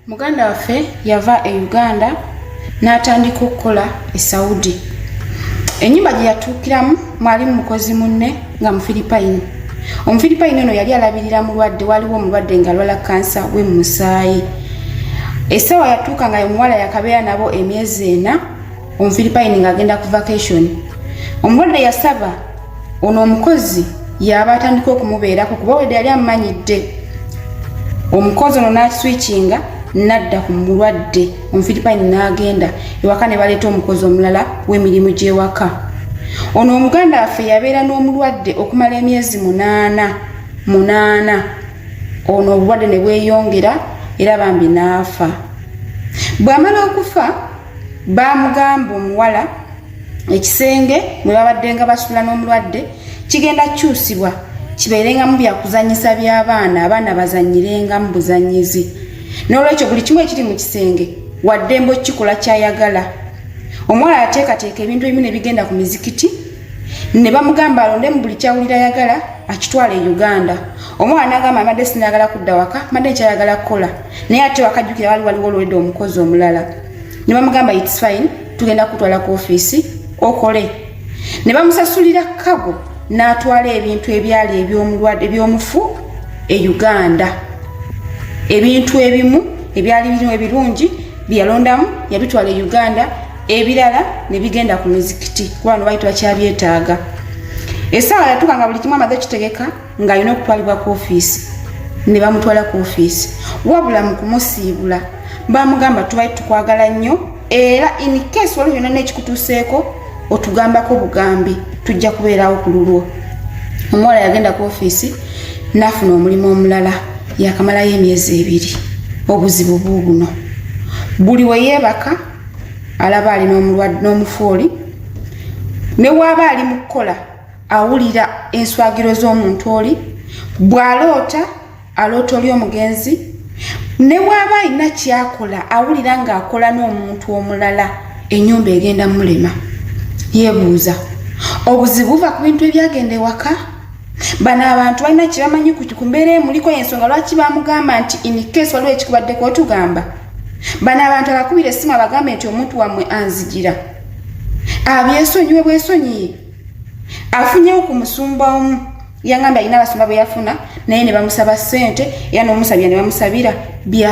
muganda waffe yava e uganda n'atandika okukola e saudi ennyumba gye yatuukiramu mwalimu mukozi munne nga mufiripayini omufiripayini ono yali alabirira mulwadde waliwo omulwadde nga lwala kansa we mu musaayi essaawa yatuuka nga omuwala yakabeera nabo emyezi ena omufiripayini ng'agenda ku vacation omulwadde yasaba ono omukozi yaba atandika okumubeerako kuba wede yali amumanyidde omukozi ono n'akiswikinga nadda ku mulwadde omufiripayini n'agenda ewaka ne baleeta omukozi omulala w'emirimu gy'ewaka ono omuganda waffe yabeera n'omulwadde okumala emyezi munaana munaana ono obulwadde ne bweyongera era bambi n'afa bw'amala okufa baamugamba omuwala ekisenge mwe babaddenga basula n'omulwadde kigenda kukyusibwa kibeerengamu byakuzanyisa by'abaana abaana bazanyirengamu buzanyizi n'olwekyo buli kimu ekiri mu kisenge waddembe okukikola kyayagala omuwala yateekateeka ebintu ebimu ne bigenda ku mizikiti ne bamugamba alonde mu buli kyawulira ayagala akitwala e uganda omwana nagamba amadde sinayagala kudda waka madde nkyayagala kukola naye ate wakajjukira wali waliwo olwedde omukozi omulala ne bamugamba its fine tugenda kutwala ku ofiisi okole ne bamusasulira kago n'atwala ebintu ebyali ebyomulwadde ebyomufu e uganda ebintu ebimu ebyali birimu ebirungi byeyalondamu yabitwala e uganda ebirala ne bigenda ku mizikiti kubano baali tubakyabyetaaga esaawa yatuka nga buli kimu amaze kitegeka ng'alina okutwalibwa ku ofiisi ne bamutwala ku ofiisi wabula mu kumusiibula bamugamba tubali tukwagala nnyo era in case waliwo yonna n'ekikutuuseeko otugambako bugambi tujja kubeerawo ku lulwo omuwala yagenda ku ofiisi n'afuna omulimu omulala yakamalayo emyezi ebiri obuzibu buubuno buli we yeebaka alaba ali n'omufu oli ne waaba ali mu kukola awulira enswagiro z'omuntu oli bw'aloota aloota oli omugenzi ne bw'aba alina kyakola awulira ng'akola n'omuntu omulala enyumba egenda mulema yebuuza obuzibu buva ku bintu ebyagenda ewaka bano abantu balina kyebamanyi ku mbeera emuliko yensonga lwaki bamugamba nti inikesi waliwo ekikubaddeko otugamba bano abantu abakubira essimu abagambe nti omuntu wamwe anzigira abyesonyiwe bwesonyiye afunyewo ku musumba omu yangamba alina abasumba bwe yafuna naye ne bamusaba ssente era n'omusabira ne bamusabira bya